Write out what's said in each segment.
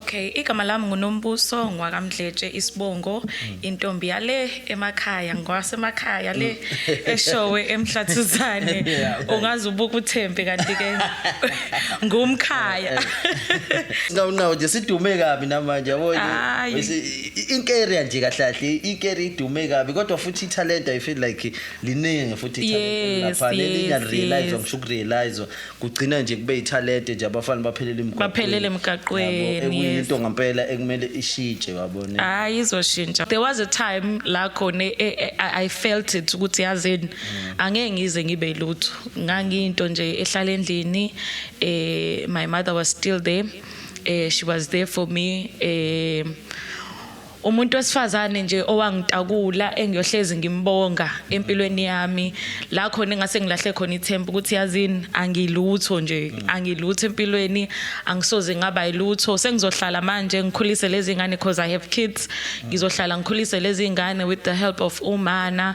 Okay, igama lami nguNombuso ngwakamdletshe isibongo hmm. intombi yale emakhaya ngwasemakhaya le hmm. eshowe emhlathuzane ungaze ubuke uthembe kanti ke ngumkhaya eh, eh. Ngawunawo nje sidume kabi namanje yabo inkeria nje kahlahle inkeria idume kabi kodwa futhi italent i feel like liningi futhi italent lapha lelinga realize ngisho ukurealize kugcina nje kube ithalente nje abafana baphelele emgaqweni baphelele emgaqweni ekuyinto ngempela ekumele ishitshe wabone hayi izoshintsha there was a time la khona e, e, e, i felt it ukuthi yazini mm. angeke ngize ngibe lutho ngangiyinto nje ehlala endlini eh my mother was still there eh she was there for me eh Umuntu wesifazane nje owangitakula engiyohlezi ngimbonga empilweni yami la khona engase ngilahle khona ithemba ukuthi yazini angilutho nje mm. angilutho empilweni angisoze ngaba ilutho sengizohlala manje ngikhulise lezi ngane because i have kids mm. ngizohlala ngikhulise lezi ngane with the help of umana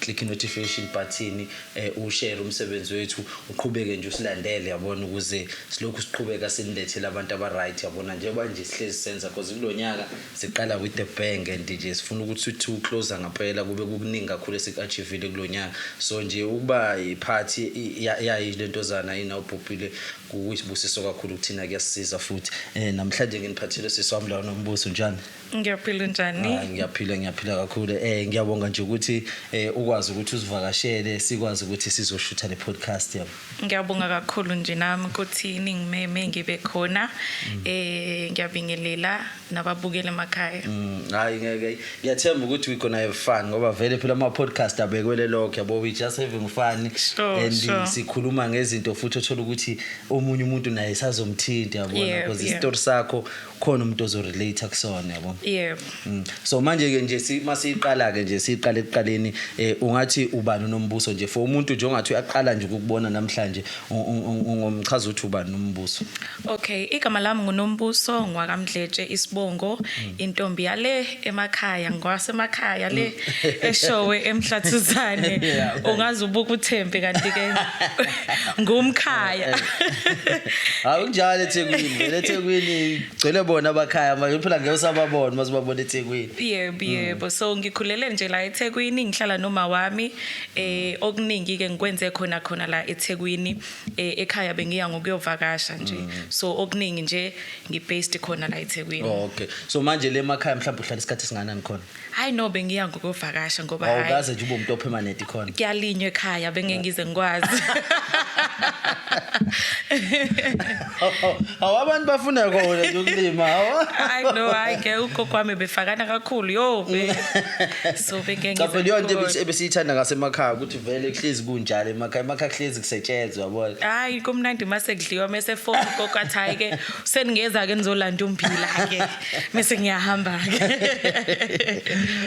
Click inotification button u share umsebenzi wethu uqhubeke nje usilandele yabona ukuze silokhu siqhubeka sinilethele abantu aba right yabona njengoba nje sihlezi senza because kulonyaka siqala with the bang and nje sifuna ukuthi sithi uclose ngaphela kube kukuningi kakhulu esikuachievile kulonyaka so nje ukuba part yayi lentozana ina ubhubhile kuyisibusiso kakhulu kuthina kuyasisiza futhi eh namhlanje nginiphathele siswami lawo nombuso njani Ngiyaphila njani? Ah, ngiyaphila ngiyaphila kakhulu. Eh ngiyabonga nje ukuthi eh ukwazi ukuthi usivakashele sikwazi ukuthi sizoshutha le podcast yami. Ngiyabonga kakhulu nje nami ukuthi ningimeme ngibe khona. Mm. Eh ngiyabingelela nababukele emakhaya. Mm, hayi ngeke. Ngiyathemba ukuthi we gonna have fun ngoba vele phela ama podcast abekwele lokho yabo we just having fun sure, and sure. sikhuluma ngezinto futhi othola ukuthi omunye umuntu naye sazomthinta yabona because yeah, yeah. istory sakho khona umuntu ozorelate kusona yabo yebo mm. so manje ke nje masiqala ke nje siqale ekuqaleni eh, ungathi ubani unombuso nje for umuntu nje ongathi uyaqala nje ukubona namhlanje ungomchaza uthi ubani nombuso okay igama lami ngunombuso ngwakamdletshe isibongo mm. intombi yale emakhaya ngwasemakhaya le eshowe emhlathuzane ungaze ubuke uthembe kanti ke ngumkhaya hawu kunjalo eThekwini vele eThekwini gcwele bona abakhaya manje phela ngeke usababona mase babona eThekwini yebo mm. yebo so ngikhulele nje la eThekwini ngihlala noma wami eh okuningi ke ngikwenze khona khona la eThekwini eh, ekhaya bengiya ngokuyovakasha nje mm. so okuningi nje ngibased khona la eThekwini Oh, okay. So manje le makhaya mhlawumbe uhlala isikhathi singanani khona? hayi no bengiya ngokuvakasha ngoba hayi Awukaze nje ube umuntu opermanent khona. kuyalinywa ekhaya bengengize ngikwazi Awu abantu bafuna kona nje ukulima. awu. hayi no hayi ke ugogo wami befakana kakhulu yo be so Cha bengengize phela yonke ngikwazi. ebesiyithanda ngasemakhaya ukuthi vele kuhlezi kunjalo emakhaya emakhaya kuhlezi kusetshenzwa yabona hayi kumnandi uma sekudliwa mese foni koko athi hayi ke seningeza ke nizolanda umphila ke mese ngiyahamba ke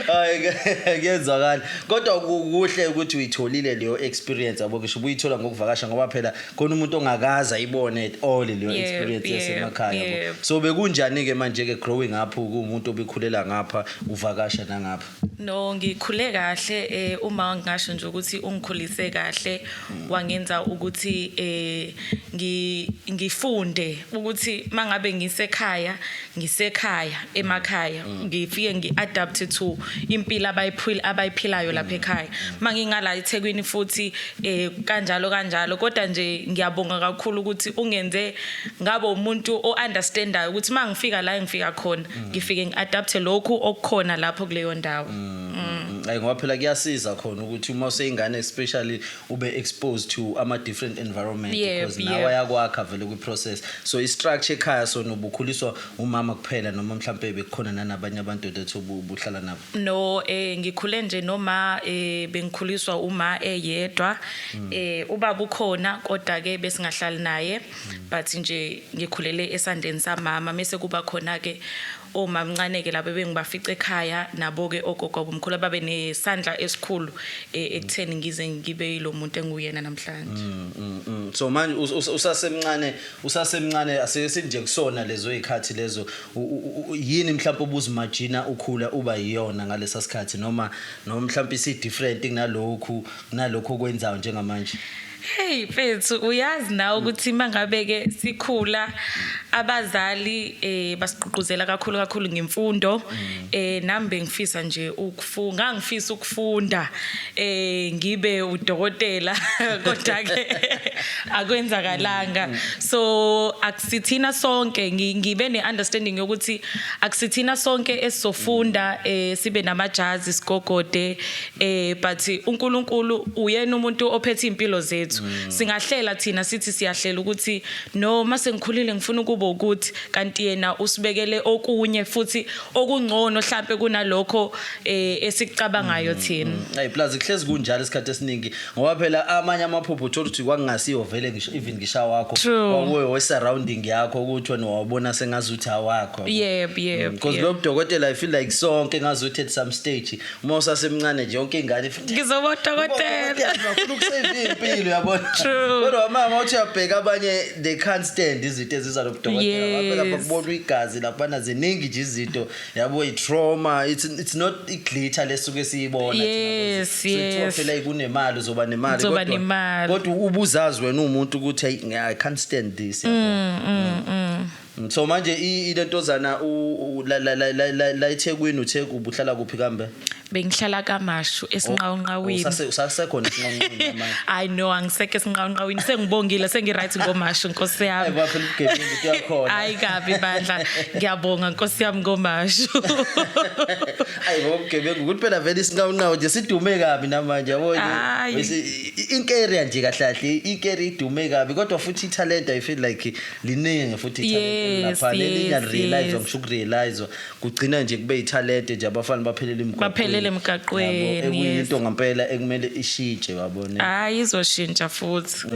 hayi kuyezwakala kodwa kuhle ukuthi uyitholile leyo experience yabo ngisho ubuyithola ngokuvakasha ngoba phela khona umuntu ongakaza ibone at all leyo experience yasemakhaya yabo so bekunjani ke manje ke growing up kuumuntu obekhulela ngapha uvakasha nangapha No ngikhule kahle eh uma ngingasho nje ukuthi ungikhulise kahle wangenza ukuthi eh ngi ngifunde ukuthi mangabe ngisekhaya ngisekhaya emakhaya mm. ngifike ngiadapt to impilo abayiphila abayiphilayo lapha ekhaya mangingala eThekwini futhi eh kanjalo kanjalo kodwa nje ngiyabonga kakhulu ukuthi ungenze ngabo umuntu ounderstandayo ukuthi mangifika la engifika khona ngifike ngi-adapthe lokhu okukhona lapho kuleyo ndawo mm, mm, mm. ayi ngoba phela kuyasiza khona ukuthi uma useyingane especially ube exposed to ama different environment because nawe ayakwakha vele kwi process so i structure ekhaya so nobukhuliswa umama kuphela noma mhlambe bekukhona nanabanye abantu that ubuhlala nabo no eh ngikhule nje noma eh bengikhuliswa uma eyedwa eh ubaba ukhona kodwa ke besingahlali naye but nje ngikhulele esandleni samama mese kuba khona ke omamncane ke labo bengibafica ekhaya nabo ke ogogo bomkhulu ababe nesandla esikhulu e, ekutheni ngize ngibe yilomuntu enguyena namhlanje mm, mm, mm. so manje usasemncane usasemncane asesinje kusona lezo izikhathi lezo yini mhlawumbe ubuzimajina ukhula uba yiyona ngalesa sikhathi noma noma mhlawumbe isi different kunalokhu kunalokho okwenzayo njengamanje Hey mfethu uyazi nawe ukuthi mangabe ke sikhula abazali eh basigqugquzela kakhulu kakhulu ngemfundo mm. eh nami bengifisa nje ukufunda ngangifisa ukufunda eh ngibe udokotela kodwa ke akwenzakalanga mm. so akusithina sonke ngibe neunderstanding yokuthi akusithina sonke esizofunda eh sibe namajazi sigogode eh but uNkulunkulu uyena umuntu ophethe impilo zethu mm. singahlela thina sithi siyahlela ukuthi no mase ngikhulile ngifuna ukuba ukuthi kanti yena usibekele okunye futhi okungcono mhlambe kunalokho eh esikucabangayo mm, thina mm. hey plus kuhlezi kunjalo isikhathi esiningi ngoba phela amanye amaphupho uthola ukuthi kwakungasiyo vele ngisho even ngisha wakho kwakuwe we surrounding yakho ukuthi wena wabona sengazuthi awakho yebo yebo because lo dokotela i feel like sonke ngazuthi at some stage uma usasemncane nje yonke ingane ifuna ngizoba udokotela ufuna ukusave impilo yabona True. kodwa mama uthi uyabheka abanye they can't stand izinto eziza lobudokotela Yes. babe lapha kubona igazi laphana ziningi nje izinto yabo i-trauma it's, it's not i-glitter lesuke siyibona thina Yes, boys. So kuthiwa yes. phela kunemali uzoba nemali Uzoba kodwa- nemali. kodwa ubuzazi wena uwumuntu ukuthi "Ayi, ngi- i can't stand this yabona. Mm, So manje ilentozana la eThekwini uthe ubuhlala kuphi kambe? Bengihlala kaMashu oh, esinqawunqawini. Oh, usasekhona esinqawunqawini manje. I know angiseke esinqawunqawini sengibongile sengiright ngoMashu Nkosi yami. Aywa phela ugebengu into yakhona. Hayi kabi bandla. Ngiyabonga Nkosi yami ngoMashu. Hayi bo ugebengu ukuthi phela vele isinqawunqawu nje sidume kabi namanje yabo nje. Inkeri nje kahle kahle inkeri idume kabi kodwa futhi italent I feel like liningi futhi ithalente Yes, lapha lelinga yes, realize yes. ngisho ukurealize kugcina nje kube ithalente nje abafana baphelele emgaqweni Baphelele emgaqweni, Yabo, yes. ekuyinto ngempela ekumele ishitshe wabona hayi izoshintsha futhi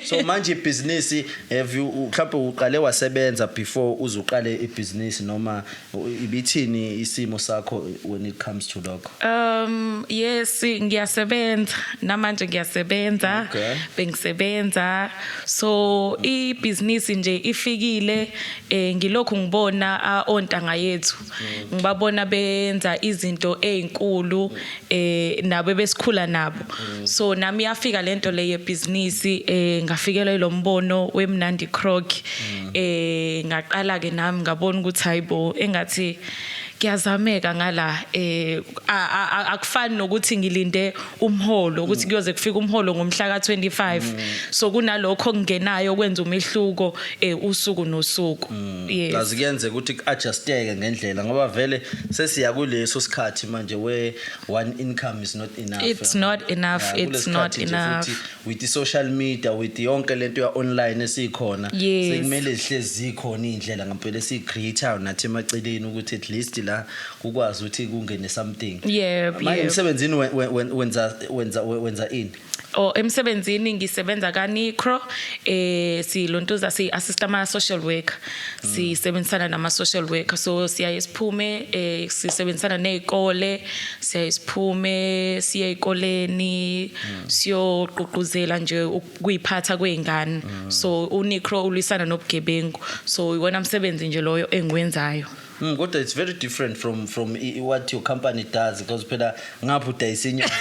so manje ibhizinisi have you mhlawumbe uqale wasebenza before uze uqale ibhizinisi noma Ibithini isimo sakho when it comes to lokho? Um yes ngiyasebenza namanje ngiyasebenza okay. bengisebenza so i business nje ifikile eh ngilokhu ngibona ontanga yethu mm. ngibabona benza izinto ezinkulu eh nabo ebesikhula nabo mm. so nami yafika lento le yebhizinisi eh ngafikelwa ilombono wemnandi croc mm. eh ngaqala ke nami ngabona ukuthi hayibo engathi kuyazameka ngala eh akufani nokuthi ngilinde umholo ukuthi kuyoze kufike umholo ngomhla ka25 mm. so kunalokho kungenayo kwenza umehluko eh usuku nosuku Yes. kazi kuyenzeka ukuthi ku-adjusteke ngendlela ngoba vele sesiya kuleso sikhathi manje where one income is not enough It's not enough, Yeah, it's kulesi not sikhathi nje enough. futhi with i-social media with yonke lento ya-online esiyikhona Yes. sekumele zihlezi zikhona iy'ndlela ngampela esiyi-create-ayo nathi emaceleni ukuthi at least la kukwazi ukuthi kungene something Yep, manje yep. emsebenzini we- we- we- wenza wenza wenza ini or emsebenzini ngisebenza ka Nicro eh silontuza si assist ama social worker mm. sisebenzisana nama social worker so siyaye siphume eh sisebenzisana nezikole siyaye siphume siye ezikoleni mm. siyoququzela nje ukuyiphatha kweingane mm. so uNicro ulwisana nobugebengu so iwona msebenzi nje loyo engiwenzayo Mm, kodwa it's very different from from what your company does because phela ngapha udayisa inyama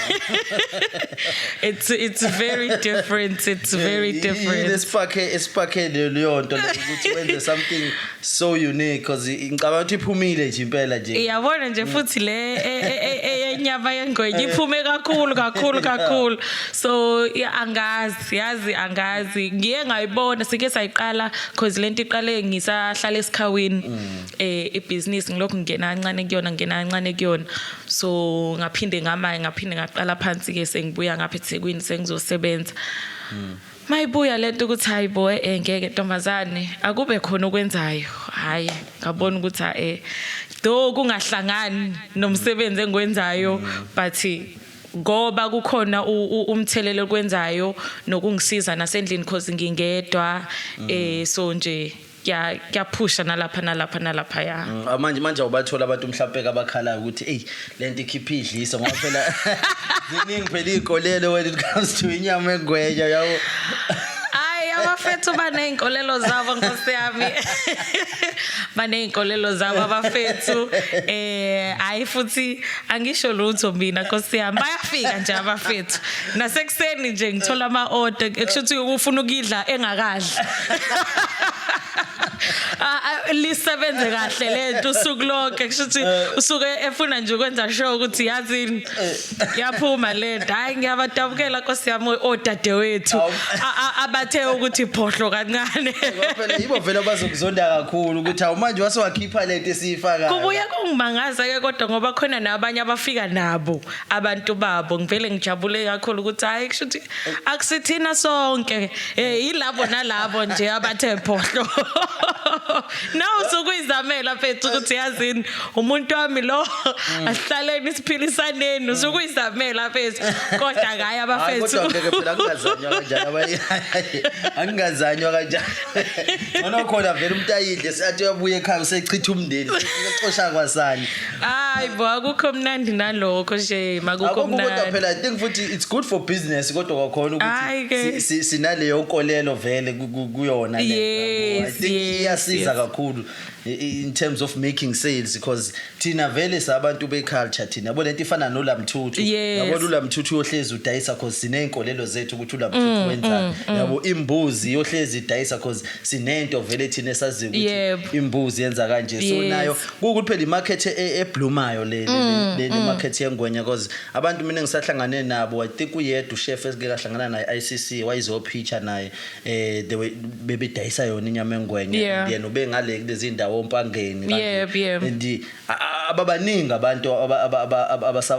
it's it's very different it's very different lesipakhe esipakhe leyo nto ukuthi wenze something so unique because ngicabanga ukuthi iphumile nje impela nje iyabona nje futhi le e, e, e, enyama yengwenya iphume kakhulu kakhulu kakhulu so angazi siyazi angazi ngiye ngayibona sike sayiqala cause lento iqale ngisahlala esikhawini mm. eh ibusiness ngilokhu ngena kancane kuyona ngena kancane kuyona so ngaphinde ngamaye ngaphinde ngaqala phansi ke sengibuya ngapha eThekwini sengizosebenza mm. mayibuya lento ukuthi hayi bo eh ngeke ntombazane akube khona okwenzayo hayi ngabona ukuthi eh do kungahlangani nomsebenzi engwenzayo mm. but ngoba kukhona umthelela okwenzayo nokungisiza nasendlini cause ngingedwa mm. eh so nje kuyaphusha nalapha nalapha nalapha ya mm, ah, manje manje awubathola abantu mhlawumpe abakhalayo ukuthi eyi le nto ikhipha idliso ngoba phela ziningi phela iy'kolelo when it comes to inyama engweja yabo hayi abafethu baney'nkolelo zabo nkosi yami baney'nkolelo zabo abafethu um eh, hhayi futhi angisho lutho mina nkosi yami bayafika nje abafethu nasekuseni nje ngithola ama order ekusho ukuthi ufuna ukudla engakadli ah, ah, lisebenze kahle lento usuku lonke kusho ukuthi eh. usuke efuna nje ukwenza show ukuthi yazini eh. yaphuma lento hayi ngiyabadabukela nkosi yami odadewethu abathe ukuthi phohlo kancane yibo vele bazokuzonda kakhulu ukuthi awumanje wase wakhipha lento esiyifakayo Ungimangaza ke kodwa ngoba khona nabanye abafika nabo abantu babo ngivele ngijabule kakhulu ukuthi hayi kusho ukuthi akusithina sonke eh yilabo nalabo nje abathe phohlo na usukuyizamela mfethu ukuthi yazini umuntu wami lo mm. asihlaleni siphilisaneni usukuyizamela mfethu kodwa ngaye abafethu kodwa ngeke phela kungazanywa kanjalo abanye angingazanywa kanjalo Ngona khona vele umuntu ayidle seyathi uyabuya ekhaya usechitha umndeni. Uxosha kwasani. Hayi bo akukho mnandi nalokho nje makukho mnandi. Akukho kodwa phela I think futhi it's good for business kodwa kwakhona ukuthi sinaleyo nkolelo vele kuyona le. I think iyasiza kakhulu. in terms of making sales because thina vele sabantu beculture thina yabo lento ifana nolamthuthu Yes. yabo ulamthuthu uyohlezi udayisa because sineyinkolelo zethu ukuthi ulamthuthu wenzani yabo imbuzi iyohlezi idayisa because sinento vele thina esaziyo Yebo. ukuthi imbuzi yenza kanje so Yes. nayo kukuthi phela imarket e- e- eblumayo le le- le le market yengwenya because abantu mina ngisahlangane nabo i think uyedwa uchef esike kahlangana naye ICC wayizopitcha naye eh they were bebedayisa yona inyama engwenye yeah. yena ubengale kulezi ndawo ompangeni yep, yep. and ababaningi abantu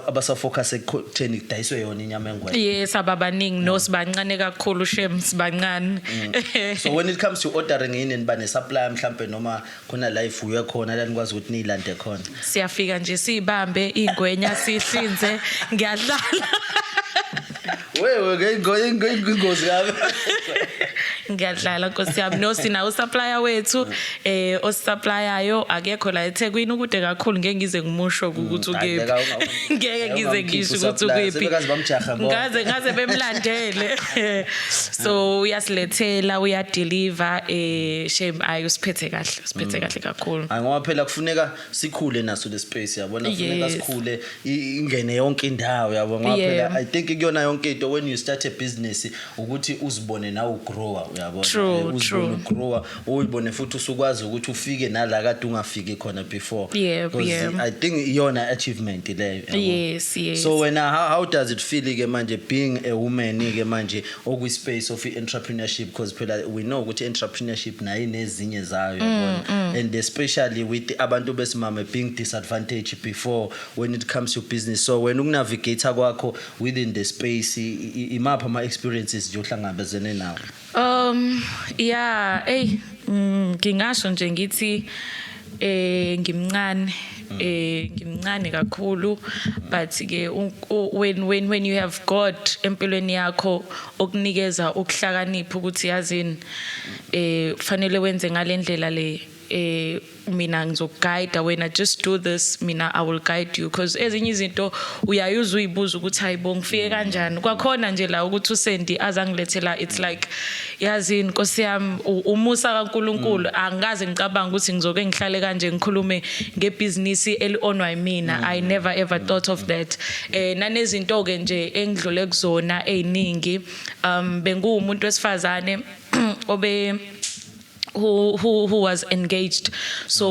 abasafocus ekutheni kudayiswe yona inyama engwenye yes ababaningi no sibancane kakhulu shem sibancane mm. so when it comes to ordering yini niba ne supply mhlambe noma khona la ifuywe khona la nikwazi ukuthi niyilande khona siyafika nje siyibambe ingwenya sihlinze ngiyadlala wewe ngeyingozi kabi ngiyadlala nkosi yami no sina usupplier wethu eh osupplyayo akekho la eThekwini ukude kakhulu ngeke ngize ngimusho mm, ukuthi ukephi ngeke ngize ngisho ukuthi ukephi ngaze ngaze bemlandele so uyasilethela uyadeliver eh shame ayi usiphethe kahle usiphethe kahle kakhulu Hayi ngoba phela kufuneka sikhule naso le space yabona kufuneka Yes. sikhule i- ingene yonke indawo yabo ngoba Yeah. phela I think kuyona yonke into when you start a business ukuthi uzibone nawe ugrower uyabona True, Eh, uzibone true. ugrower uyibone futhi usukwazi ukuthi ufike nala kade ungafiki khona before yeah, yeah. i think iyona achievement leyo yes, yes. so wena how, how does it feel ke manje being a woman ke manje okwi space of entrepreneurship because phela we know ukuthi entrepreneurship nayo inezinye zayo yabona mm, mm. and especially with abantu besimame being disadvantaged before when it comes to business so wena ukunavigate kwakho within the space imapha ama experiences nje ohlangabezene nawo Um yeah ey mm, ngingasho nje ngithi eh ngimncane eh ngimncane kakhulu but ke when when when you have God empilweni yakho okunikeza ukuhlakanipha ukuthi yazini eh kufanele wenze ngalendlela le eh mina ngizokuguide wena just do this mina i will guide you because ezinye izinto uyayuza uyibuza ukuthi hayibo ngifike mm. kanjani kwakhona nje la ukuthi usendi azangilethela it's like yazi inkosi yami umusa kaNkuluNkulu mm. angikaze ngicabanga ukuthi ngizoke ngihlale kanje ngikhulume ngebhizinisi elionwa yimina mm. i never ever thought of that eh nanezinto ke nje engidlule kuzona eziningi um benguwumuntu wesifazane obe who who who was engaged so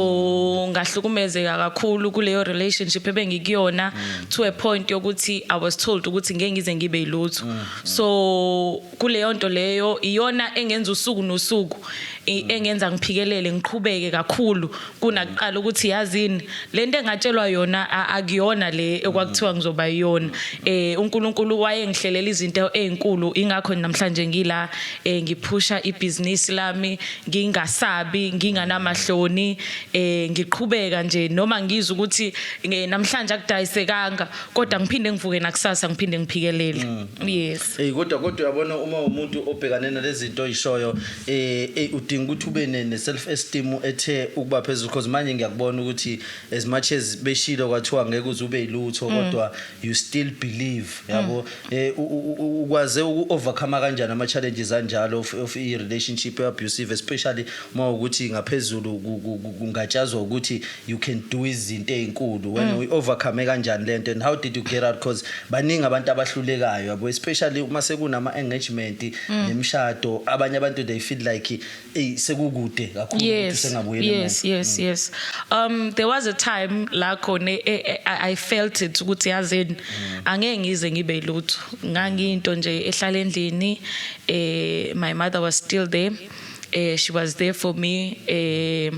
ngahlukumezeka kakhulu kuleyo relationship ebengikuyona to a point yokuthi i was told ukuthi ngeke ngize ngibe yilutho so kuleyo nto leyo iyona engenza usuku nosuku i- engenza ngiphikelele ngiqhubeke kakhulu kunakuqala ukuthi yazini lento engatshelwa yona akuyona le ekwakuthiwa ngizoba yiyona eh uNkulunkulu wayengihlelela izinto ezinkulu ingakho namhlanje ngila eh ngiphusha ibhizinisi lami ngingasabi nginganamahloni eh ngiqhubeka nje noma ngizwe ukuthi eh, namhlanje akudayisekanga kodwa ngiphinde ngivuke nakusasa ngiphinde ngiphikelele mm. yes eh kodwa kodwa uyabona uma umuntu obhekane nalezinto oyishoyo eh, eh udinga ukuthi ube ne ne self esteem ethe ukuba phezulu because manje ngiyakubona ukuthi as much as beshilo kwathiwa ngeke uze ube ilutho kodwa you still believe yabo eh u- u- u- ukwaze uku overcome kanjani ama challenges anjalo of, of i relationship abusive especially uma ukuthi ngaphezulu ku- ku- ku- kungatshazwa ukuthi you can do izinto ezinkulu when mm. we overcome kanjani lento and how did you get out because baningi abantu abahlulekayo yabo especially uma sekunama engagement mm. nemshado abanye abantu they feel like hey sekukude kakhulu ukuthi sengabuyela yes yes mm. yes um there was a time la khona e, e, e, i felt it ukuthi yazini mm. angeke ngize ngibe lutho ngangiyinto nje ehlala endlini eh my mother was still there eh she was there for me eh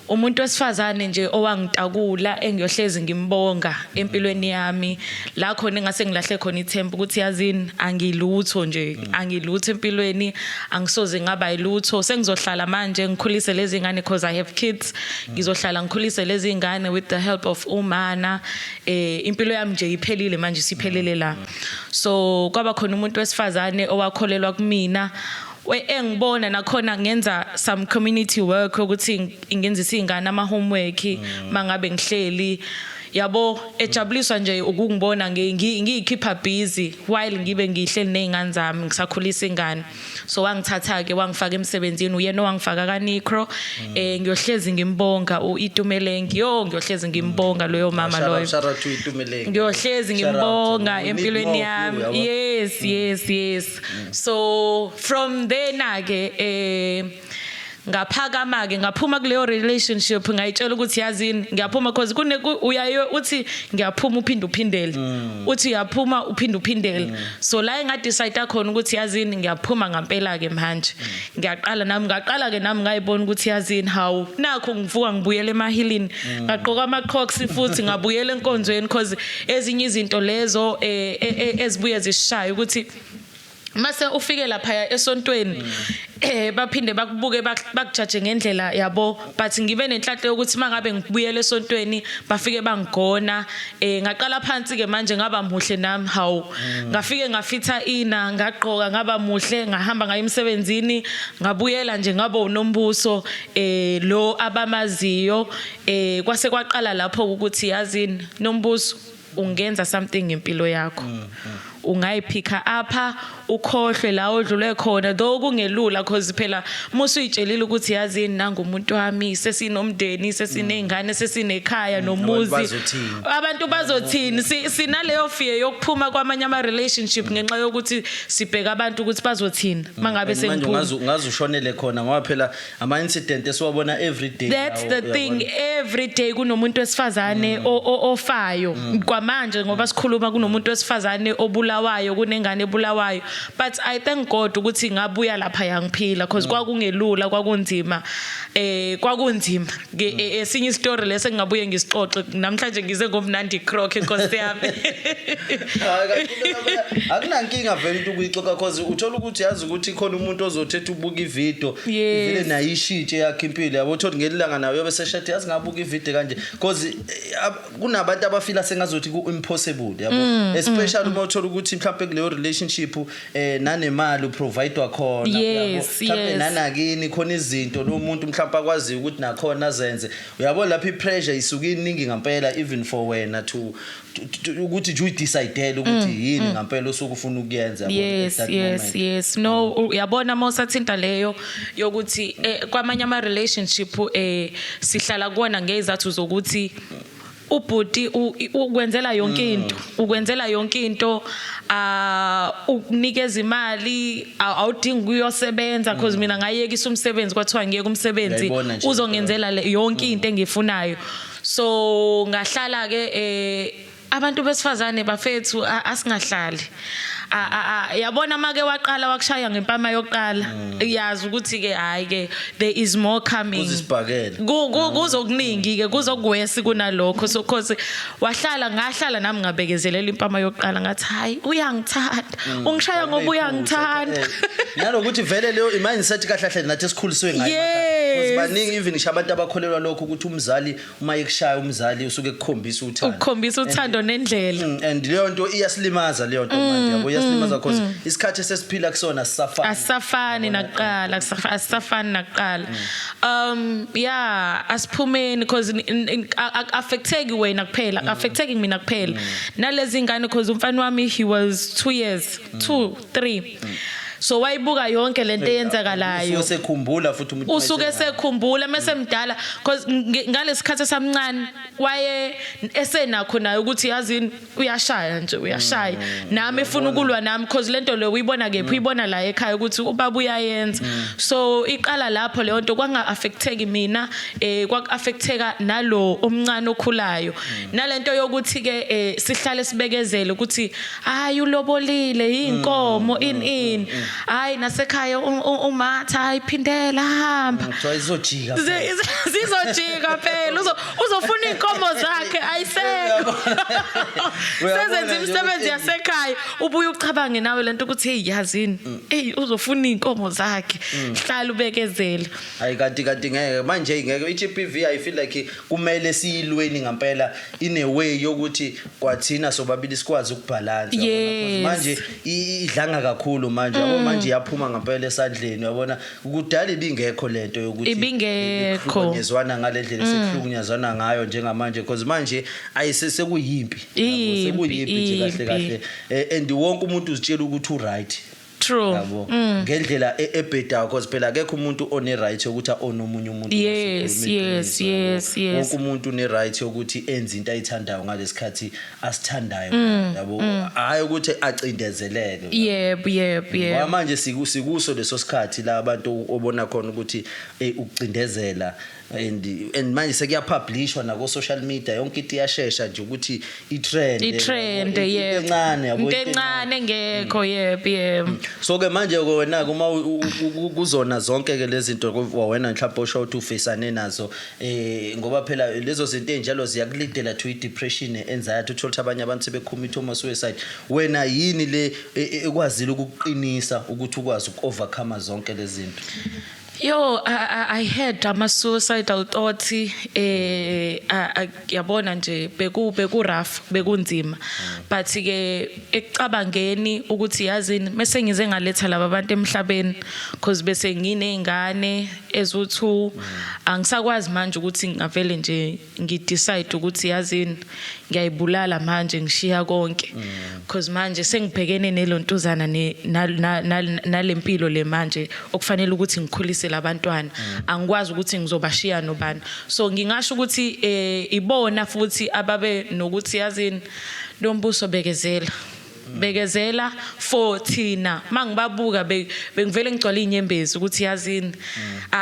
Umuntu wesifazane nje owangitakula engiyohlezi ngimbonga empilweni yami la khona engase ngilahle khona ithemba ukuthi yazini angilutho nje angilutho empilweni angisoze ngaba yilutho sengizohlala manje ngikhulise lezi ngane because i have kids ngizohlala ngikhulise lezi ngane with the help of umana eh impilo yami nje iphelile manje siphelele la so kwaba khona umuntu wesifazane owakholelwa kumina engibona nakhona ngenza some community work ukuthi ngenzisa izingane ama homework mm. mangabe ngihleli yabo ejabuliswa nje ukungibona ngiyikhipha busy while ngibe ngihleli nezingane zami ngisakhulisa ingane so wangithatha ke wangifaka emsebenzini uyena owangifaka kaNicro mm. eh ngiyohlezi ngimbonga uItumelengi yo ngiyohlezi ngimbonga loyo mama loyo ngiyohlezi ngimbonga empilweni yami yes yes yes Mm. So from there na ke eh ngaphakama ke ngaphuma kuleyo relationship ngayitshela ukuthi yazini ngiyaphuma because kune uyaye uthi ngiyaphuma uphinde uphindele mm. uthi uyaphuma uphinde uphindele mm. so la enga decide khona ukuthi yazini ngiyaphuma ngampela ke manje mm. ngiyaqala nami ngaqala ke nami ngayibona ukuthi yazini hawu nakho ngivuka ngibuyele emahilini ngaqoka ama crocs futhi ngabuyele enkonzweni because ezinye izinto lezo eh, eh, eh, ezibuye zisishaye ukuthi mase ufike lapha esontweni eh baphinde bakubuke bakujaje ngendlela yabo but ngibe nenhlanhla yokuthi mangabe ngibuyele esontweni bafike bangigona eh ngaqala phansi ke manje ngaba muhle nami hawu mm. ngafike ngafitha ina ngagqoka ngaba muhle ngahamba ngaye emsebenzini ngabuyela nje ngabo unombuso eh lo abamaziyo eh kwase kwaqala lapho ukuthi yazini Nombuzo ungenza something ngempilo yakho. Mm, mm. Ungayiphikha apha ukhohlwe la odlule khona though kungelula cause phela musu uyitshelile ukuthi yazi nangu umuntu wami sesinomndeni sesinezingane sesinekhaya mm, nomuzi. Abantu bazothini sinaleyo fear yokuphuma kwamanye ama relationship ngenxa yokuthi sibheka abantu ukuthi bazothini mangabe sengiphuma. Ngazi ushonele khona ngoba phela ama incident esiwabona every day that's the thing every day kunomuntu wesifazane mm. ofayo mm. kwamanje ngoba sikhuluma kunomuntu wesifazane obulawayo kunengane ebulawayo but i thank god ukuthi ngabuya lapha yangiphila because mm. kwakungelula kwakunzima eh kwakunzima Ke e- esinye istory lesi engingabuye ngisixoxe namhlanje ngize ngomnandi croc enkosi yami. Hayi, kanti into yakho- akunankinga vele into ukuyixoxa cause uthola ukuthi yazi ukuthi khona umuntu ozothetha ubuka ividiyo Yes. ivele nayo ishitshe yakhe impilo yabo uthole ngelilanga nayo yobe seshathi yazi ngabuka ividiyo kanje cause eh, ab- kunabantu abafila sengazothi ku-impossible yabo especially uma uthola ukuthi mhlawumpe kuleyo relationship eh nanemali uprovidwa khona yes, mhlawumbe yes. nanakini khona izinto lo muntu mhlawumbe akwaziyo ukuthi nakhona azenze uyabo lapha ipressure isuke iningi ngampela even for wena to ukuthi nje uyidecidele ukuthi mm, yini mm. ngampela osuke ufuna ukuyenza yes yes yes no uyabona mosathinta leyo yokuthi eh, kwamanye ama relationship eh sihlala kuona ngezathu zokuthi ubhuti ukwenzela yonke mm. into ukwenzela yonke into ah ukunikeza imali awudingi kuyosebenza because mm. mina ngayekisa umsebenzi kwathiwa ngiyeke umsebenzi uzongenzela yonke mm. into engifunayo so ngahlala ke eh abantu besifazane bafethu asingahlali Ah, ah, ah, yabona make waqala wakushaya ngempama yokuqala mm. yazi ukuthi ke hayi ke there is more coming uzisibhakele mm. kuzokuningi ke kuzokwesi kunalokho so cause wahlala ngahlala nami ngabekezelela impama yokuqala ngathi hayi uyangithanda mm. ungishaya ngoba uyangithanda eh. nalokuthi vele leyo imagine set kahle kahle nathi sikhuliswe ngayo baningi even ngisho abantu abakholelwa lokho ukuthi umzali uma ikushaya umzali usuke ekukhombisa uthando ukukhombisa uthando nendlela mm, and leyo nto iyasilimaza leyo nto manje mm, yabo iyasilimaza mm, cause isikhathi esesiphila kusona sisafana asafani naqala asafani naqala um yeah asiphumeni cause affecteki wena kuphela affecteki mina kuphela nalezi ngane cause umfana wami he was 2 years 2 3 so wayibuka yonke lento eyenzakalayo usuke sekhumbula futhi umuntu usuke sekhumbula mase mdala because ngalesikhathi esamncane waye esenakho naye ukuthi yazini uyashaya nje uyashaya mm. nami efuna ukulwa nami because lento leyo uyibona kephi mm. uyibona la ekhaya ukuthi ubaba uyayenza mm. so iqala lapho leyo nto kwanga affecteki mina eh kwak affecteka nalo omncane okhulayo nalento yokuthi ke eh, sihlale sibekezele ukuthi hayi ulobolile inkomo mm, in mm, in mm, hayi nasekhaya umatha hayi phindela hamba kuthiwa izojika zizojika phela uzofuna inkomo zakhe ayisekho sezenza imisebenzi yasekhaya ubuye ucabange nawe lento ukuthi hey yazini hey uzofuna inkomo zakhe hlala ubekezela hayi kanti kanti ngeke manje ngeke iGPV i feel like kumele siyilweni ngempela in a way yokuthi kwathina sobabili sikwazi ukubhalansa yes. manje idlanga kakhulu manje yabo mm. manje yaphuma ngempela esandleni yabona kudala ibingekho lento yokuthi ibingekho ngezwana ngalendlela mm. sekuhlukunyazwana ngayo njengamanje because manje ayisesekuyimpi sekuyimpi nje kahle kahle eh, and wonke umuntu uzitshela ukuthi uright True. Yabo. Mm. Ngendlela e- ebhedayo because phela akekho umuntu one right yokuthi one omunye umuntu. Yes, Sikhuluma yes, iqiniso, yabo. yes, yes. Wonke umuntu une right yokuthi enze into ayithandayo ngalesikhathi asithandayo. Mm, Yabo. Hayi ukuthi acindezeleke. Yep, yep, Ngoba yep. manje siku- sikuso leso sikhathi la abantu obona khona ukuthi eh, ukucindezela and and manje sekuyapublishwa nako social media yonke into iyashesha nje ukuthi itrend itrend yebo encane yabo into encane engekho mm. yebo yebo mm. so ke manje ke wena uma kuzona zonke ke lezi zinto wena mhlawumbe osho ukuthi ufisane nazo eh ngoba phela lezo zinto enjalo ziyakulidela to depression anxiety uthola ukuthi abanye abantu sebecommit uma suicide wena yini le e, e, ekwazile ukuqinisa ukuthi ukwazi ukovercome zonke lezi zinto Yo I, I, I had ama suicidal thoughts eh yabona nje beku beku rough bekunzima but ke ekucabangeni ukuthi yazini mase ngize ngaletha laba bantu emhlabeni because bese nginezingane ezu2 angisakwazi manje ukuthi ngavele nje ngi decide ukuthi yazini ngiyayibulala manje ngishiya konke because manje sengibhekene nelontuzana ne- na- na- na- nalempilo le manje okufanele ukuthi ngikhulise labantwana angikwazi ukuthi ngizobashiya nobani so ngingasho ukuthi eh ibona futhi ababe nokuthi yazini lombuso bekezela bekezela for thina mangibabuka bengivele ngigcwala inyembezi ukuthi yazini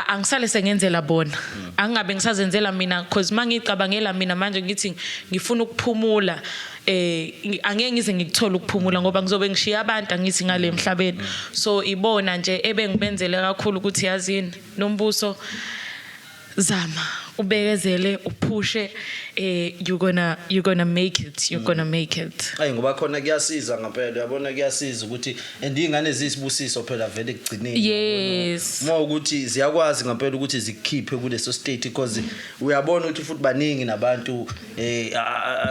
angisale sengenzela bona angingabe ngisazenzela mina because mangicabangela mina manje ngithi ngifuna ukuphumula eh angeke ngize ngikuthola ukuphumula ngoba ngizobe ngishiya abantu angithi ngale emhlabeni so ibona nje ebengibenzele kakhulu ukuthi yazini nombuso Zama ubekezele uphushe eh you gonna you gonna make it you gonna make it. Ayi ngoba khona kuyasiza ngempela uyabona kuyasiza ukuthi and ingane zisibusiso phela vele kugcineni. Yes. Uma ukuthi ziyakwazi ngempela ukuthi zikhiphe kuleso state because uyabona ukuthi futhi baningi nabantu eh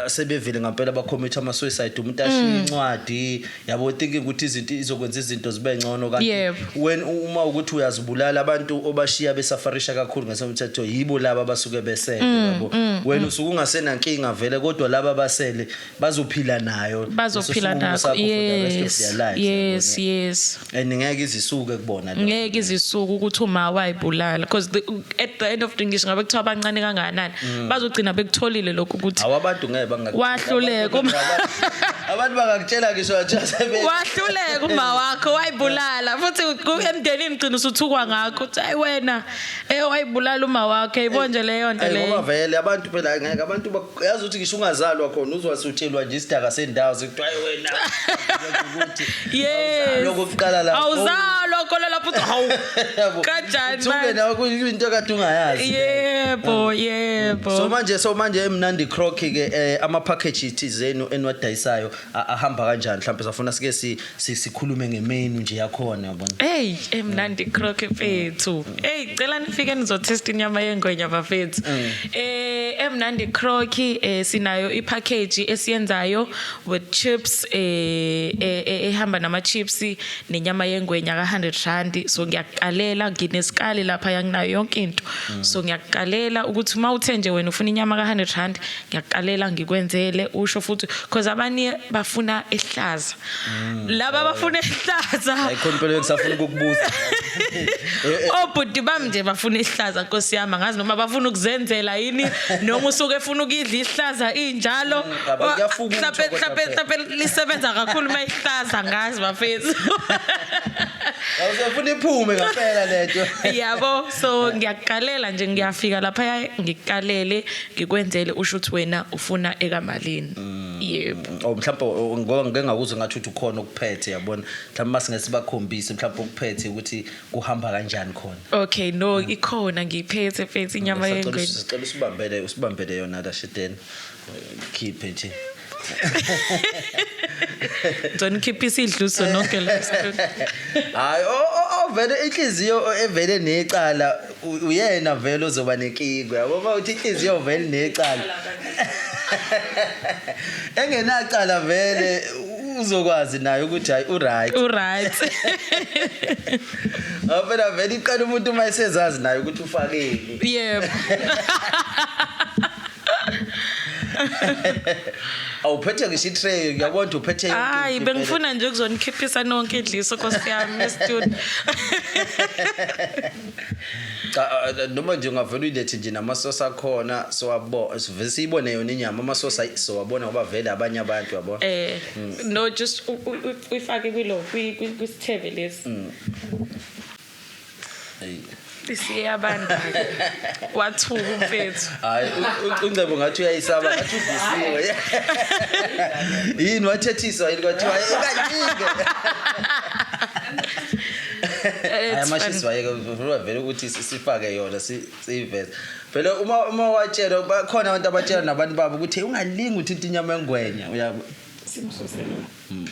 sebevile ngempela ba commit ama suicide umuntu ashiye mm. incwadi yabo thinking ukuthi izinto izokwenza izinto zibe ngcono kanti when uma ukuthi uyazibulala abantu obashiya besafarisha kakhulu ngesemthetho yibo laba basuke besele mm, yabo mm, wena usuke ungasena nkinga vele kodwa laba basele bazophila nayo bazophila nayo yes yes yes and ngeke izisuke kubona lo ngeke izisuke ukuthi uma wayibulala because the, at the end of the ngisho ngabe kuthiwa abancane kangakanani mm. bazogcina bekutholile lokho ukuthi awabantu ngeke bangakuhluleka abantu bangakutshela ngisho athi wahluleka uma wakho wayibulala futhi emndenini gcina usuthukwa ngakho uthi ayi wena eh wayibulala uma wakho ayibonje leyo nto leyo ngoba vele abantu phela ngeke abantu uyazi ukuthi ngisho ungazalwa khona uzwasutshelwa nje isidaka sendawo sekuthiwa "Ayi wena Yes. lokho kuqala lapho Awuzalwa khona lapho uthi hawu. Yabo. Kanjani Usuke manje? nawe kuyinto kade ungayazi Yebo, yebo. so manje so manje emnandi croc ke eh, ama package thizeni enwadayisayo a- ahamba kanjani mhlawumbe safuna sike si sikhulume ngemenu nje yakhona yabona hey emnandi croque fethu hey cela nifike nizotest inyama yengwenya bafethu mm. eh emnandi croque eh sinayo ipackage esiyenzayo with chips eh, eh, eh ehamba nama chips nenyama yengwenya ka 100 rand so ngiyaqalela nginesikali lapha yanginayo yonke into mm. so ngiyaqalela ukuthi uma uthe nje wena ufuna inyama ka 100 rand ngiyaqalela ngikwenzele usho futhi because abanye bafuna ehlaza mm. laba oh. bafuna ehlaza ayikho impilo yokusafuna ukukubuza obhuti oh, bami nje bafuna ihlaza nkosi yami angazi noma bafuna ukuzenzela yini noma usuke efuna ukuyidla ihlaza injalo mm, mhlape mhlape mhlape lisebenza kakhulu uma ihlaza ngazi bafethu awusefuna iphume ngaphela lento yabo so ngiyaqalela nje ngiyafika lapha ngikalele ngikwenzele usho ukuthi wena ufuna ekamalini mm. yebo oh mhlawumbe oh, oh, ngoba ngike ngakuzwe ngathi uthi ukhona okuphethe yabona mhlawumbe masingeke sibakhombise mhlawumbe okuphethe ukuthi kuhamba kanjani khona okay no mm. ikhona ngiyiphethe phethe inyama yengwe sicela usibambele usibambele yona la shiteni khiphe nje Don't keep his idluso nonke la. Hayi, oh, oh, oh vele inhliziyo evele necala U- uyena vele ozoba nenkinga yabo uma uthi inhliziyo vele necala engenacala vele u- uzokwazi naye ukuthi hayi uright uright ngoba phela vele iqala umuntu uma esezazi naye ukuthi ufakeni yebo awuphethe ngisho itray uyabona ukuthi uphethe yonke hayi into vele. bengifuna nje ukuzonikhiphisana wonke idliso nkosi yami estudio cha uh, noma nje ungavela uyilethe nje namasosi akhona siwabo sivele siyibone yona inyama amasosi ayi- siwabona ngoba vele abanye abantu yabo Eh no just u- u- u- uyifake kwilo kwi- kwi- kwisithebe lesi. Eyi. Isiyabanda. Wathuka umfethu. hayi u- u- uncebo ngathi uyayisaba ngathi udisiwe yini wathethiswa yini kwathiwa "Eh, kaningi ayamashisi wayeke vele ukuthi sifake yona siyiveze vele uma uma watshelwa bakhona abantu abatshela nabantu babo ukuthi ungalingi uthinta inyama engwenya uyabo simsusela hmm.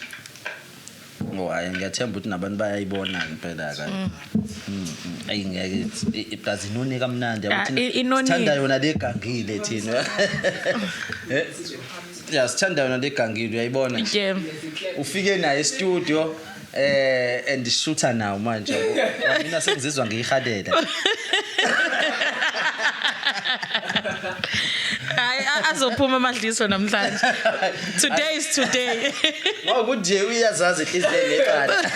ngo hayi ngiyathemba ukuthi nabantu bayayibona impela ka hmm. hmm, ayi ngeke iplazi inoni kamnandi sithanda yona legangile thina eh? ya sithanda yona legangile uyayibona ufike naye e-studio Eh and shutha nawo manje. Mina sengizizwa ngiyihalela. Hayi azophuma amadliso namhlanje. Today is today. Ngokuthi uyazazi inhliziyo leqala.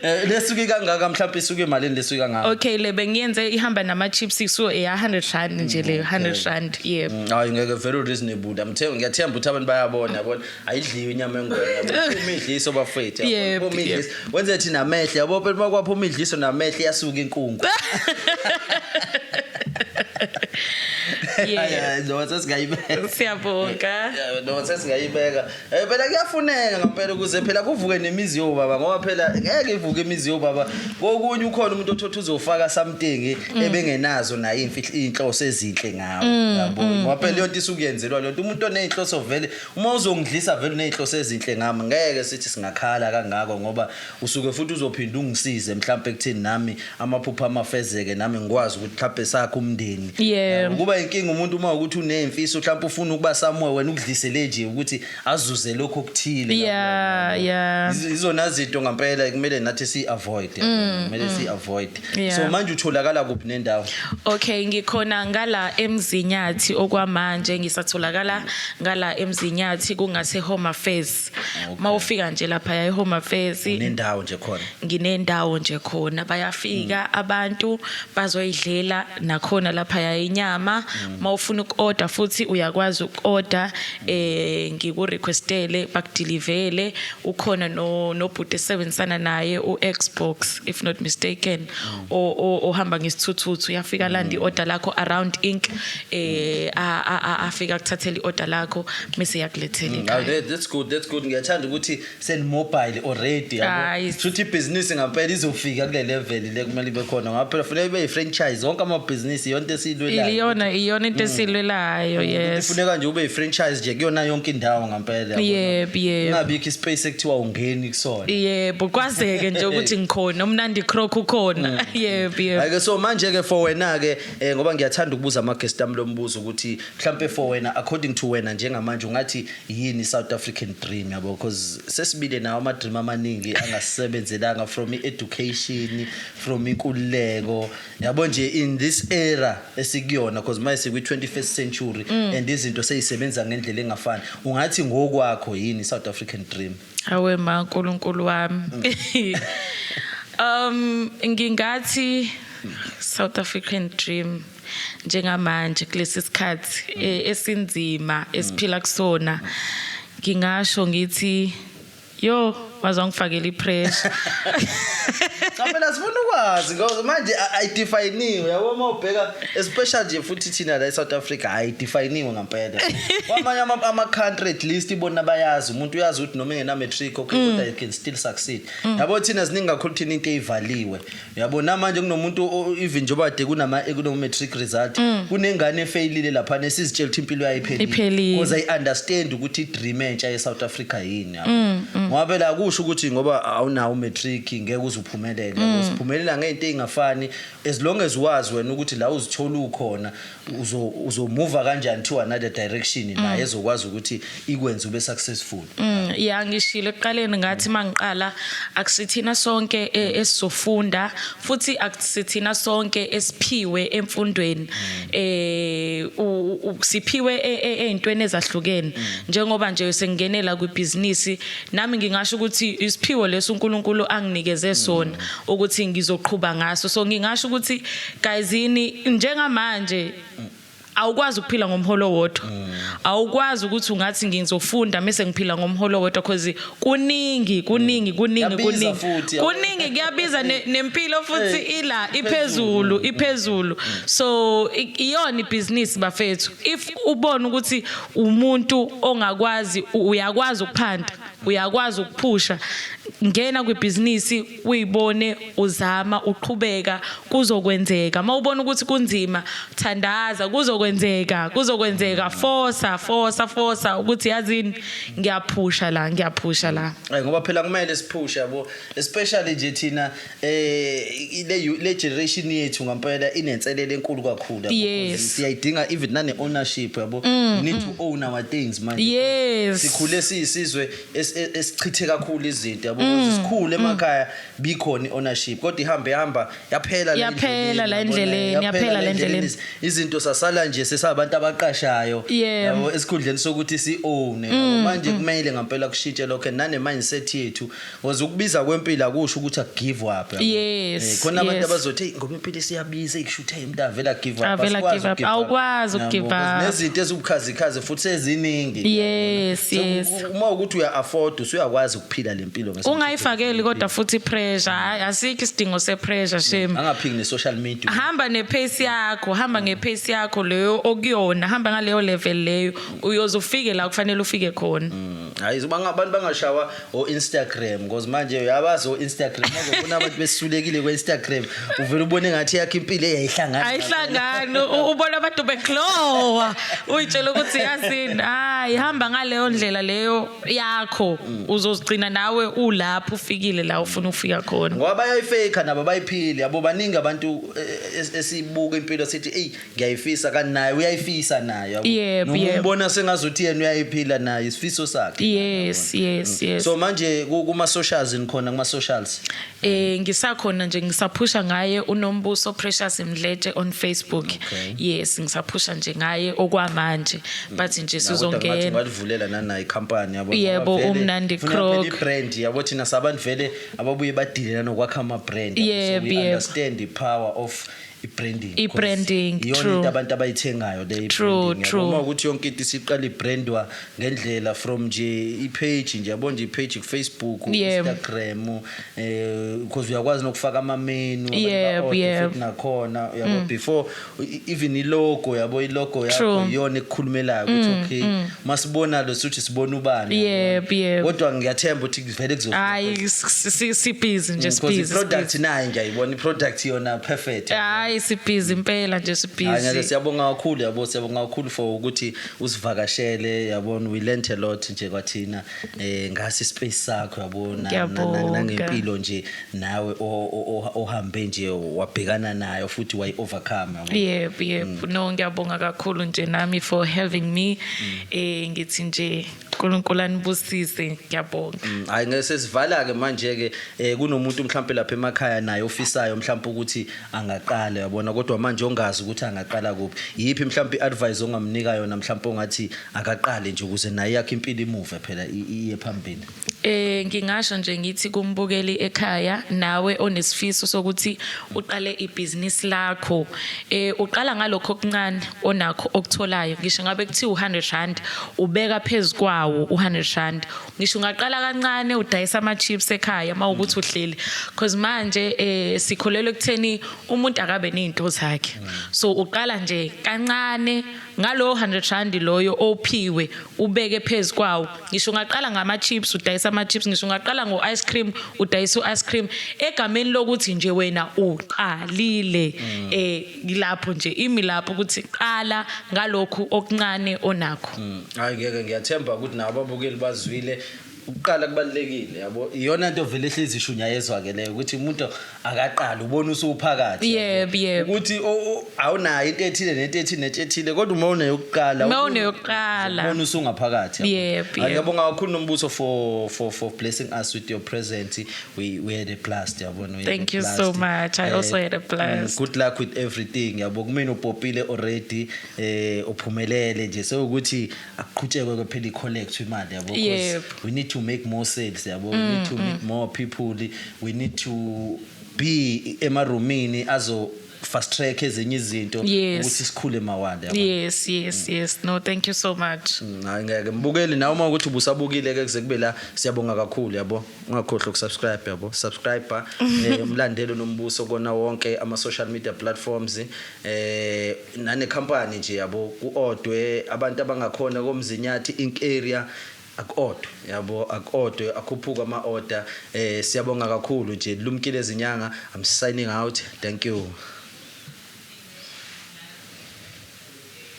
Eh, lesuke kangaka mhlawumbe isuke malini lesuke kangaka. Okay le bengiyenze ihamba nama chips so eh 100 rand nje le 100 rand yebo. Mm, hayi ngeke very reasonable. I'm telling ngiyathemba ukuthi abantu bayabona yabona. ayidliwe inyama engwenya uma idliso bafethu uma idliso wenze thina amehlo yabo phela uma kwaphuma idliso namehlo iyasuka inkungu noma sesingayibeka siyabonga noma sesingayibeka eh, phela kuyafuneka ngampela ukuze phela kuvuke nemizi yobaba ngoba phela ngeke ivuke imizi yobaba kokunye ukhona umuntu othotha uzofaka something mm. ebengenazo naye inhloso ezinhle ngawo mm, yabo mm, ngoba phela leyo nto isukuyenzelwa leyo nto umuntu oneyinhloso vele Uma uzongidlisa vele uney'nhloso ezinhle ngami ngeke sithi singakhala kangako ngoba usuke futhi uzophinde ungisize mhlawumpe ekuthini nami amaphupho ami afezeke nami ngikwazi ukuthi mhlawumpe sakhe umndeni. Yeah. Um, Kuba inkinga umuntu uma ukuthi uney'mfiso mhlawumpe ufuna ukuba somewhere wena ukudlisele nje ukuthi azuze lokho okuthile. Yeah, yeah. Yiz- Izona zinto ngampela kumele nathi si-avoid. Kumele si-avoid. Yeah. so manje utholakala kuphi nendawo Okay ngikhona ngala eMzinyathi okwamanje ngisatholakala ngala eMzinyathi kungase Home Affairs. Mawufika nje lapha ya Home Affairs nendawo nje khona nginendawo nje khona bayafika abantu bazoyidlela nakhona lapha ya inyama mawufuna ukorder futhi uyakwazi ukorder eh ngiku requestele bakudilivele ukhona no nobhuti esebenzisana naye uXbox if not mistaken ohamba ngesithuthuthu uyafika landa iorder lakho around ink eh afika kuthathela iorder lakho bese yakulethela mm, ekhaya that's good that's good ngiyathanda ukuthi send mobile already yabo futhi business ngampela izofika kule level le kumele ibe khona ngoba phela funeka ibe franchise zonke ama business yonke esilwelayo iyona iyona into mm. esilwelayo mm, yes funeka nje ube franchise nje kuyona yonke indawo ngempela yabona. Yebo, yebo. Ingabikho ispace ekuthiwa ungeni kusona yebo kwazeke nje ukuthi ngikhona umnandi croc ukhona yebo yebo Ake so manje ke for wena ke eh, ngoba ngiyathanda ukubuza ama guest ami lombuzo ukuthi mhlambe for wena according to wena njengamanje ungathi yini South African dream yabo because sesibile nawo ama dream amaningi angasebenzelanga from i education from inkululeko Yabo nje in this era esikuyona because manje sikwi 21st century mm. and izinto seyisebenza ngendlela engafani. Ungathi ngokwakho yini South African dream? Awe ma uNkulunkulu wami. Mm. Um ngingathi South African dream njengamanje kulesi sikhathi e, esinzima esiphila kusona ngingasho ngithi Yo, waze wangifakela ipressure. Cha phela sifuna ukwazi ngoba manje ayidefiniwe yabo uma ubheka especially nje futhi thina la eSouth Africa ayidefiniwe ngempela. Kwamanye ama ama country at least ibona bayazi umuntu uyazi ukuthi noma engena matric okay kodwa you can still succeed. Yabo thina ziningi kakhulu thina into eyivaliwe. yabo namanje kunomuntu o- even njengoba de kunama kuno-matric result Mm. kunengane efeyilile lapha nesizitshela ukuthi impilo yayo Iphelile. iphelile because i understand ukuthi i-dream entsha ye-south africa yini yabo Mm, ngoba phela akusho ukuthi ngoba awunawo u-matric ngeke uze uphumelele Mm. uziphumelela ngey'nto ey'ngafani as long as wazi wena ukuthi la uzithola ukhona uzo uzomuva kanjani to another direction la mm. ezokwazi ukuthi ikwenze ube successful mm, yeah ngishilo ekuqaleni ngathi mangiqala akusithina sonke e, mm. esizofunda futhi akusithina sonke esiphiwe emfundweni eh siphiwe e, e, ezintweni ezahlukene njengoba nje sengingenela kwibhizinisi nami ngingasho ukuthi isiphiwo leso uNkulunkulu anginikeze sona ukuthi ngizoqhuba ngaso so ngingasho ukuthi Guys yini njengamanje awukwazi ukuphila ngomholo wodwa mm. awukwazi ukuthi ungathi ngizofunda mase ngiphila ngomholo wodwa because kuningi kuningi mm. kuningi kuningi kuningi kuyabiza nempilo futhi ila iphezulu mm. iphezulu so iyona ibhizinisi bafethu if ubona ukuthi umuntu ongakwazi uyakwazi ukuphanda uyakwazi ukuphusha ngena kwibhizinisi uyibone uzama uqhubeka kuzokwenzeka mawubona ukuthi kunzima thandaza kuzokwenzeka kuzokwenzeka forsa forsa forsa ukuthi yazini ngiyaphusha la ngiyaphusha la ay ngoba phela kumele siphushe yabo especially nje thina eh le le generation yethu ngampela inenselele enkulu kakhulu yes. siyayidinga even nane ownership yabo mm, need to mm. own our things manje yes. sikhule siyisizwe es- es- esichithe kakhulu izinto yabo Mm, because sikhulu emakhaya bikhona i-ownership kodwa ihambe ihamba yaphela la Yaphela endleleni, la yabona, endleleni, yaphela la endleleni. Iz- izinto sasala nje sesabantu abaqashayo Yeah. Mm, yabo esikhundleni sokuthi si-owne yabo. manje kumele ngampela kushintshe lokho and nane-mindset yethu because ukubiza kwempilo akusho ukuthi akugive up yabo. Yes, Eh, khona abantu yes. abazothi "Eyi, ngoba impilo isiyabiza ikusho ukuthi umuntu avela give up avela give up awukwazi ukugive up nezinto ezibukhazikhazi futhi seziningi yes yes uma ukuthi uya afford usuyakwazi ukuphila lempilo ngesikhathi ungayifakeli kodwa futhi pressure hayi asikho isidingo se pressure shame angaphiki ne social media hamba ne pace yakho hamba nge pace yakho leyo okuyona hamba ngaleyo level leyo uyoze ufike la kufanele ufike khona mm. hayi abantu bangashawa o-instagram cause manje uyabazi o-instagram azobona abantu besulekile kwe-instagram uvele ubone ngathi yakho impilo eyayihlangana ayihlangani u- ubona abantu beglowa uyitshela ukuthi yazini hayi hamba ngaleyo ndlela leyo yakho uzozigcina nawe ulapho ufikile la ufuna ukufika khona ngoba bayayifake nabo bayiphile yabo baningi abantu eh, es- esibuka impilo sithi eyi ngiyayifisa kanti naye uyayifisa nayo Yebo, Noma yebo. umbona sengazuthi yena uyayiphila naye isifiso sakhe yes yes yes so manje ku- kuma socials nikhona kuma socials eh ngisakhona nje ngisaphusha ngaye unombuso precious mdletshe on facebook Okay. yes ngisaphusha nje ngaye okwamanje but nje Nakuthi angathi sizongena ungalivulela nanayi company yabo Yebo, Ngoba vele uMnandi funa Croc. phela i-brand yabo thina sabantu vele ababuye badilela nokwakha ama-brand Yebo, So we yebo. understand the power of i-branding I-branding, because iyona true. into abantu abayithengayo le True, i-branding, yabo. true. uma ukuthi yonke into isiqala ibrandwa ngendlela from nje i-page nje yabo nje i-page kufacebook Yebo. instagram um because uyakwazi nokufaka amamenu abantu Yebo, ba-order yebo. Mm. futhi nakhona yabo before e- even ilogo yabo ilogo yakho True. Mm, iyona ekukhulumelayo ukuthi okay masibona lo sithi sibona ubani Yebo, yabo. yebo. kodwa ngiyathemba ukuthi vele kuzo hayi si- si- sibhizi nje because sibhizi i-product sibhizi. nayo nje ayibona i-product yona perfect hayi sibhizi impela nje Hhayi, nyaze, sibhizi siyabonga kakhulu yabo siyabonga kakhulu for ukuthi usivakashele yabona we learnt a lot nje kwathina um ngasi space sakho yabona na- na- Ngiyabonga. nangempilo nje nawe o- o- o- ohambe nje wabhekana nayo futhi wayi-overcome yabo. yebo yebo no ngiyabonga kakhulu nje nami for having me eh ngithi nje uNkulunkulu anibusise ngiyabonga mm, hayi ngeke sesivala ke manje ke eh, kunomuntu mhlawumbe lapha emakhaya naye ofisayo mhlawumbe ukuthi angaqala yabona kodwa manje ongazi ukuthi angaqala kuphi yipi mhlawumbe iadvice ongamnika yona mhlawumbe ongathi akaqale nje ukuze naye yakhe impilo imuve phela iye phambili eh ngingasho nje ngithi kumbukeli ekhaya nawe onesifiso sokuthi uqale ibhizinisi lakho eh uqala ngalokho okuncane onakho okutholayo ngisho ngabe kuthiwa u100 rand ubeka phezukwawo u100 rand ngisho ungaqala kancane udayisa ama chips ekhaya mawukuthi uhleli because manje eh sikholelwe kutheni umuntu akabe nezinto zakhe so uqala nje kancane ngalowo 100 rand loyo ophiwe ubeke phezu kwawo ngisho ungaqala ngama-chips udayisa ama-chips ngisho ungaqala ngo-ice cream udayisa u-ice cream egameni lokuthi nje wena uqalile um eh, lapho nje imi lapho ukuthi qala ngalokhu okuncane onakho mm. hayi ngeke ngiyathemba ukuthi nabo ababukeli bazwile Ukuqala kubalulekile yabo. Iyona nto vele ehlezi ishunyayezwa ke leyo ukuthi umuntu akaqala ubona usuphakathi. Yebo yebo. Ukuthi awunayo into ethile nento ethile nento ethile kodwa uma une yokuqala. Uma une yokuqala. Ubona usungaphakathi. Yebo yebo. Ngiyabonga kakhulu nombuso for for for blessing us with your present. We we had a blast yabona. Thank you so much. I eh, also had a blast. Mm, good luck with everything yabo. Kumina upopile already eh uphumelele nje sewukuthi akuqhutshekwe ke phela i-collect imali yabo because we need to make more sales yabo we need to mm, meet mm. more people we need to be emarumini azo fast track ezinye izinto ukuthi sikhule mawande yabo yes yes mm. yes no thank you so much mm, hayi ngeke mbukeli nawe uma ukuthi ubusabukile ke kuze kube la siyabonga kakhulu yabo ungakhohlwa ukusubscribe yabo subscriber eh, umlandelo nombuso kona wonke ama social media platforms eh nane company nje yabo kuodwe abantu abangakhona komzinyathi inkeria akodwa yabo akodwa akhuphuka ama order eh siyabonga kakhulu nje lumkile izinyanga i'm signing out thank you